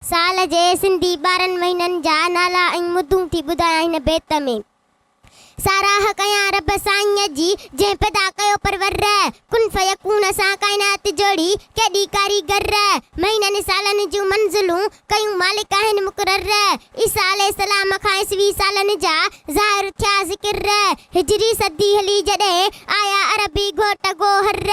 سال جي سنڌي ٻارهن مهينن جا نالا ۽ مدون ٿي ٻڌايان هن بيت ۾. ساراهه ڪيان رب سائينء جي جنهن پيدا ڪيو پرور. ڪن فيڪون سان ڪائنات جوڙي ڪيڏي ڪاريگر. مهينن سالن جون منزلون ڪيون مالڪ آهن مقرر. عيسيٰ عليه السلام کان عيسوي سالن جا ظاهر ٿيا ذڪر. هجري صدي هلي جڏهن آيا عربي گهوٽ گوهر.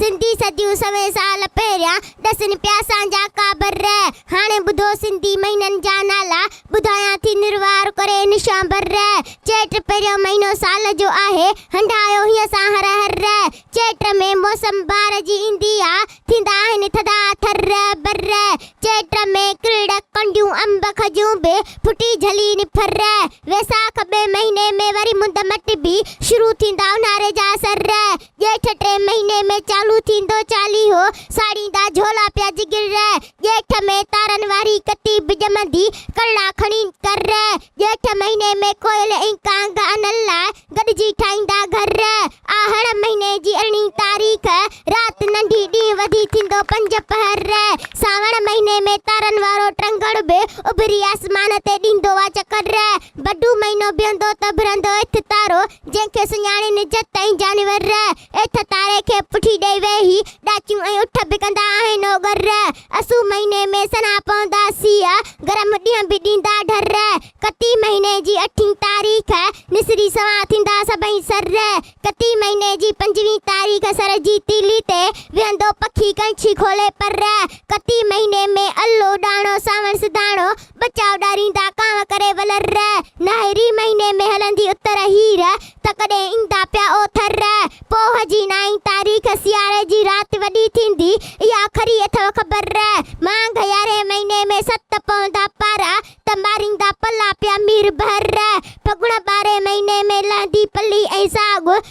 سنڌي صديون سوين سال پهريان ڏسن پيا اسان جا ڪابر رهه. هاڻي ٻڌو سنڌي مهينن جا نالا، ٻڌايان ٿي نروار ڪري نشان بر رهه. چيٽ پهريون مهينو سال جو آهي، هنڍايو هيء سان هر هر رهه. چيٽ ۾ موسم بهار جي ايندي آ، ٿيندا آهن ٿڌا ٿر رهه بر رهه. چيٽ ۾ ڪرڙ، ڪنڊيون، انب، کجون به ڦٽي جهلي نڦر رهه. ويساک ٻئي مهيني ۾ وري مند مٽ به شروع ٿيندا اونهاري جا اثر رهه. ڄيٺ ٽئين مهيني ۾ چالو ٿيندو چاليهو، ساڙيندا جهولا پيا جگر ري، ڄيٺ ۾ تارن واري ڪتي به ڄمندي، ڪرڙا کڻي ڪر ري، ڄيٺ مهيني ۾ ڪوئل ۽ ڪانگ انل لاء گڏجي ٺاهيندا گهر ري، آهڙ مهيني جي ارڙهين تاريخ رات ننڍي ڏينهن وڌي ٿيندو پنج پهر ري، سانوڻ مهيني ۾ تارن وارو ٽرنگڙ به اڀري آسمان تي ڏيندو آ چڪر ري، بڊو مهينو بيهندو ته ڀرندو اٿ تارو، جنهن کي سڃاڻي نجت ۽ جانور رح ايٿ تاري کي پٺي ڏئي وي هي ڏاچيون ۽ اٺ به ڪندا آهن او گر رح اسو مهيني ۾ سنها پوندا سيء گرم ڏينهن به ڏيندا ڍر رح ڪتي مهيني جي اٺين تاريخ نسري سنها ٿيندا سڀئي سر رح ڪتي مهيني جي پنجوين تاريخ سر جي تيلي تي ويهندو پکي ڪنڇي کولي پر رح ڪتي مهيني ۾ الو ڏاڻو سانوڻ سڌاڻو بچاء ڏاريندا ڪانء ڪري ولر رء. ناهري مهيني ۾ هلندي اتر هير. ته ڪڏهن ايندا پيا اوٿر رء. پوه جي نائين تاريخ سياري جي رات وڏي ٿيندي. اها کري اٿئو خبر رء. مانگهه يارهين مهيني ۾ ست پوندا پارا. ته ماريندا پلا پيا مير بحر رء. ڦڳڻ ٻارهين مهيني ۾ لهندي پلي ۽ ساڳ.